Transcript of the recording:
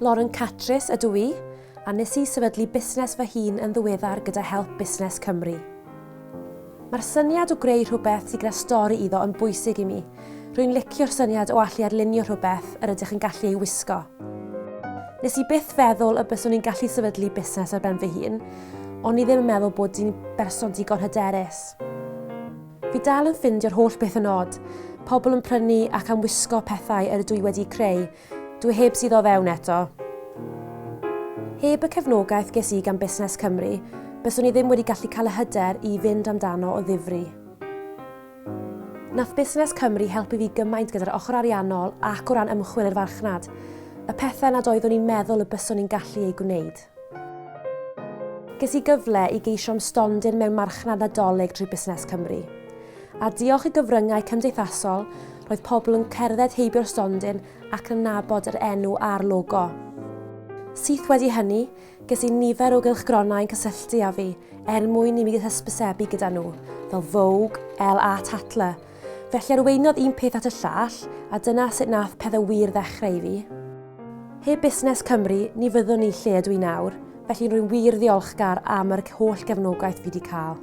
Lauren Catris ydw i, a nes i sefydlu busnes fy hun yn ddiweddar gyda help Busnes Cymru. Mae'r syniad o greu rhywbeth sy'n gyda stori iddo yn bwysig i mi. Rwy'n licio'r syniad o allu arlunio rhywbeth yr ydych yn gallu ei wisgo. Nes i byth feddwl y byswn i'n gallu sefydlu busnes ar ben fy hun, ond i ddim yn meddwl bod di'n berson digon hyderus. Fi dal yn ffindio'r holl beth yn od. Pobl yn prynu ac am wisgo pethau yr ydw i wedi'u creu. Dw i heb suddo fewn eto. Heb y cefnogaeth ges i gan Busnes Cymru, byswn i ddim wedi gallu cael y hyder i fynd amdano o ddifri. Nath Busnes Cymru helpu fi gymaint gyda'r ochr ariannol ac o ran ymchwil i'r farchnad. Y pethau nad oeddwn i'n meddwl y byswn i'n gallu eu gwneud. Ges i gyfle i geisio am stondin mewn Marchnad Nadolig drwy Busnes Cymru. A diolch i gyfryngau cymdeithasol, roedd pobl yn cerdded heibio'r stondin ac yn nabod yr enw a'r logo. Syth wedi hynny, ges i nifer o gylchgronau yn cysylltu â fi er mwyn i mi hysbysebu gyda nhw, fel Vogue, Elle a Tatler, Felly arweiniodd un peth at y llall, a dyna sut nath pethe wir ddechreu i fi. Heb Busnes Cymru, ni fyddwn i lle ydw i nawr, felly rwy'n wir ddiolchgar am yr holl gefnogaeth fi 'di cael.